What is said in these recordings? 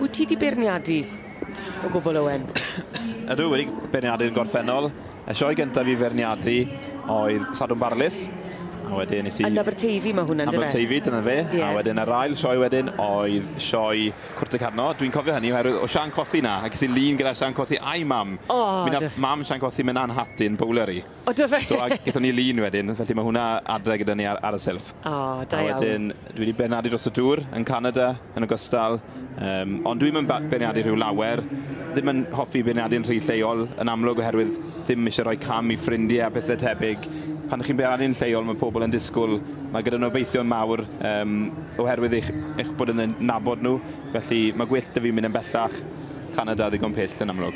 Wyt ti di beirniadu o gwbl Owen? Ydw, wedi beirniadu yn gorffennol. Y sioe gyntaf i feirniadu oedd Sadwrn Barlys, a wedyn nes i... Yn Aberteifi mae hwnna'n dyna? Aberteifi, dyna fe. Yeah. A wedyn yr ail sioe wedyn oedd sioe Cwrt y Carno. Dwi'n cofio hynny, oherwydd o Sian Cothi na, ac ys i lun gyda Sian Cothi a'i mam. Oh, Mi nath mam Sian Cothi mynd anhatyn bowler i. O do fe? Do a gethon ni lun wedyn felly ma' hwnna adre gyda ni ar ar y silff. O da iawn. A wedyn dwi 'di benadu dros y dŵr yn Canada yn ogystal yym ond dwi'm yn ba- beirniadu rhyw lawer ddim yn hoffi beirniadu'n rhy lleol yn amlwg oherwydd ddim isie rhoi cam i ffrindie a pethe tebyg. Pan chi'n beirniadu'n lleol ma' pobol yn disgwl ma' gyda nhw obeithion mawr yym oherwydd eich eich bod yn eu nabod nhw felly ma' gwyllt 'da fi mynd yn bellach. Canada ddigon pill yn amlwg.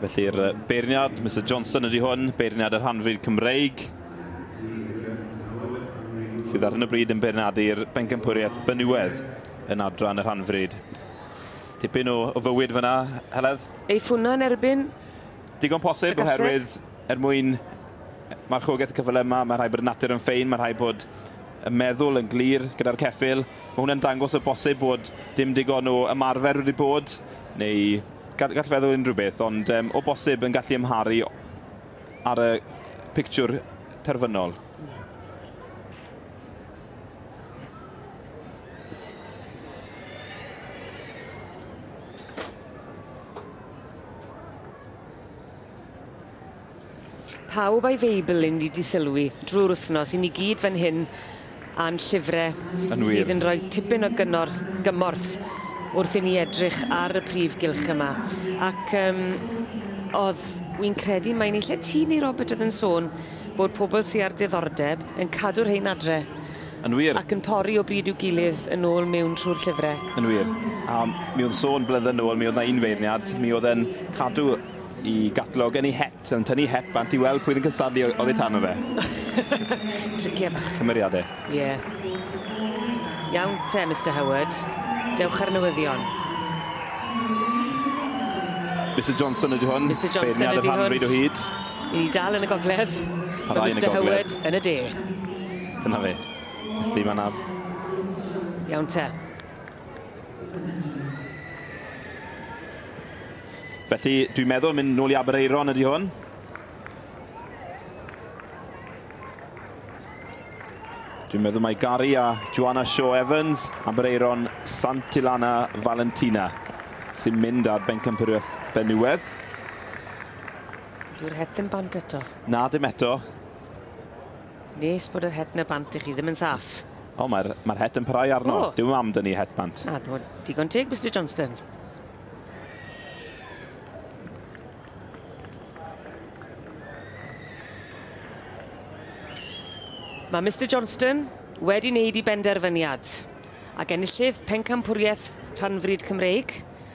Felly'r beirniad, Mr Johnson ydy hwn, beirniad y rhanfryd Cymreig, sydd ar hyn o bryd yn beirniadu'r bencampwriaeth Benywedd yn adran y rhanfryd. Tipyn o, o fywyd fyna, Heledd? Ei ffwna yn erbyn Digon posib oherwydd er mwyn marchogaeth y cyfle yma, mae rhaid bod y natur yn ffein, mae rhaid bod y meddwl yn glir gyda'r ceffyl. Mae hwnna'n dangos o bosib bod dim digon o ymarfer wedi bod, neu gall, gall feddwl unrhyw beth, ond um, o bosib yn gallu ymharu ar y pictiwr terfynol. Pawb a'i Feibl yn di disylwi drwy'r wythnos, i ni gyd fan hyn a'n llyfre sydd yn rhoi tipyn o gynorth, gymorth wrth i ni edrych ar y prif gylch yma. Ac um, oedd, wy'n credu mae'n eich ti neu Robert oedd yn sôn bod pobl sy'n ar diddordeb yn cadw'r hein adre Yn wir. Ac yn pori o bryd i'w gilydd yn ôl mewn trwy'r llyfre. Yn wir. A mi o'dd sôn blydde nôl mi o'dd 'na un feirniad mi o'dd e'n cadw 'i gatlog yn 'i het yn tynnu het bant i weld pwy o'dd yn cystadlu o- oddi tano fe. Tricie bach. Cymeriade. Ie. Iawn te Mister Howard. Dewch ar newyddion. Mister Johnson ydi hwn. Mister Johnson ydi hwn. Beirniad y rhan bryd o hyd. Ni dal yn y gogledd. Mister Howard yn y de. Dyna fe. Felly mae yna... Iawn te. Felly, dwi'n meddwl mynd nôl i Aberaeron ydy hwn. Dwi'n meddwl mae Gary a Joanna Shaw Evans, Aberaeron Santilana Valentina, sy'n mynd ar bencampwriaeth Benywedd. Dwi'n heb ddim bant eto. Na, dim eto. Nes bod yr het 'na bant i chi ddim yn saff. O, mae'r mae'r het yn parhau arno. O! Dyw mam dynnu het bant. Na, dwi'n digon teg, Mr Johnston. Mae Mr Johnston wedi wneud i benderfyniad ac enillydd pencampwriaeth rhanfryd Cymreig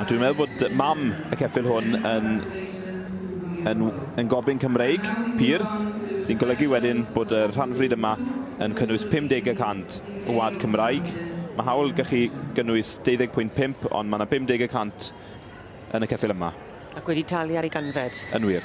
A dwi'n meddwl bod mam y ceffyl hwn yn yn yn gobyn Cymreig pur, sy'n golygu wedyn bod y rhanfryd yma yn cynnwys 50 y cant o wlad Cymraeg. Mae hawl gallu gynnwys 20.5 ond mae 'na 50 y cant yn y ceffyl yma. Ac wedi talu ar ei ganfed. Yn wir.